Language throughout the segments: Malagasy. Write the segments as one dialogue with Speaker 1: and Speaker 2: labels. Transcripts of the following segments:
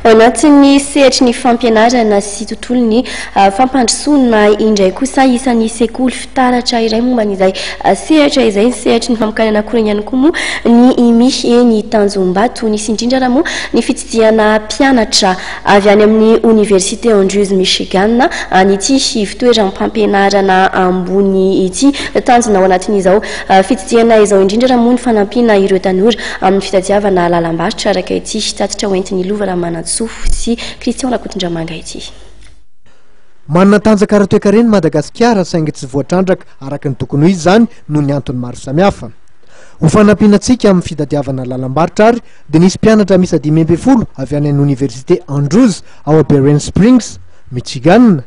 Speaker 1: Ao anatin'ny sehatry ny fampianarana sy tontolon'ny fampandrosoana indray kosa isan'ny sekoly fitaratra iray momba an'izay sehatra izay ny sehatry ny famokarana akora ihany koa moa ny IMI eny Tanjombato. Nisy indrindra ary moa ny fitsidihana mpianatra avy any amin'ny Oniversite Andrews Michigan an'ity ivo-toeram-pampianarana ambony ity. Tanjona ao anatin'izao Fitsidihana izao indrindra raha moa ny fanampiana ireo tanora amin'ny fitadiavana lalam-barotra araka ity tatitra hoentin'i Lova Ramanantsoa sy Christian Rakotondramanga ity.
Speaker 2: Manana tanjaka ara-toekarena i Madagasikara saingy tsy voatrandraka araka ny tokony ho izy izany noho ny antony maro samihafa. Ho fanampiana antsika amin'ny fitadiavana lalam-barotra ary dia nisy mpianatra miisa dimy ambin'ny folo avy any an'ny Oniversite Andrews ao Berens Springs, Michigan,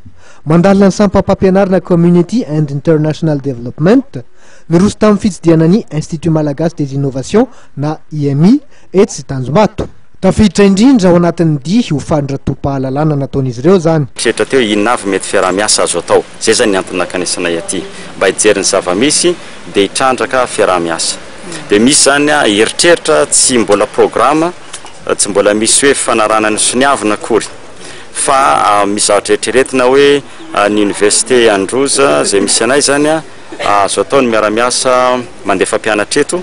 Speaker 2: Mandalina ny sampam-pampianarana Community and International Development, niroso tamin'ny fitsidihana ny Institut Malagasy des Innovations na IMI etsy Tanjombato. Tafiditra indrindra ao anatin'ny dihy ho faly ratoa-pahalalana nataon'izy ireo izany. Mpieritreritra teo inona avy
Speaker 3: mety fiaraha-miasa azo atao. Izay izany ny antony nankanesanay aty. Mba hijery ny zava-misy dia hitrandraka fiaraha-miasa. Dia misy izany eritreritra tsy mbola programa, tsy mbola misy hoe fifanarahana ny soniavina akory. fa mizatra eritreretina hoe ny Université Androzy izay misy anay izany azo atao ny miara-miasa mandefa mpianatra eto,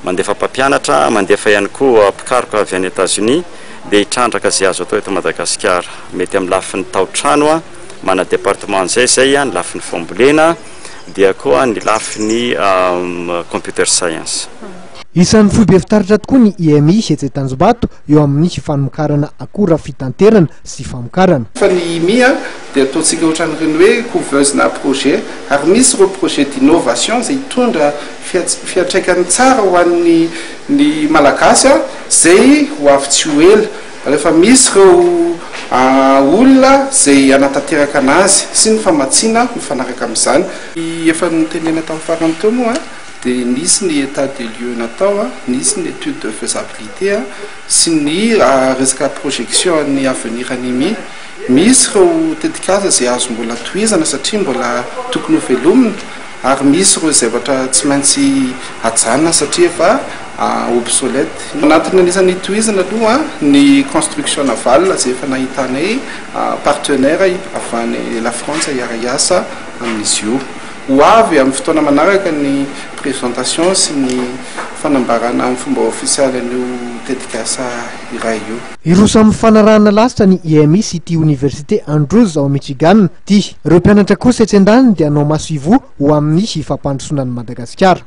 Speaker 3: mandefa mpampianatra, mandefa ihany koa mpikaroka avy any Etazonia dia hitrandraka izay azo atao eto Madagasikara. Mety amin'ny lafiny tao-trano mana département an'izay izay, ny lafiny fambolena dia koa ny lafiny computer science. Isan'ny foibe
Speaker 2: fitaratra tokoa ny IMI etsy Tanjombato eo amin'ny fanokarana akora fitanterana sy famokarana. Fa ny IMIA
Speaker 4: dia ataontsika ohatran'ireny hoe couveuse na projet, ary misy ireo projet d'innovation izay hitondra fiantraikany tsara ho an'ny ny Malagasy izay ho avy tsy ho ela, rehefa misy ireo olona izay hanatanteraka anazy sy ny famatsiana mifanaraka amin'izany. Ny efa notenena tamin'ny farany teo moa. dia nisy ny état des lieux natao, nisy ny étude de faisabilité sy ny resaka projection an'ny avenir an'i Imi. Misy ireo tetikasa izay azo mbola tohizana satria mbola tokony ho velomina ary misy ireo zavatra tsy maintsy ajanona satria efa obsolète. Anatin'ny anisan'ny hitohizana aloha ny construction navale izay efa nahitanay partenaire avy any La Frantsa hiara-hiasa amin'izy io. Ho avy amin'ny fotoana manaraka ny présentation sy ny fanambarana amin'ny fomba ofisialy an'io tetikasa iray io. Hiroso amin'ny fanarahana
Speaker 2: lasitra ny IMI sy ity Oniversite Andrews ao Michigan ity. Ireo mpianatra kosa etsy an-daniny dia hanao masoivoho ho amin'ny fampandrosoana an'i Madagasikara.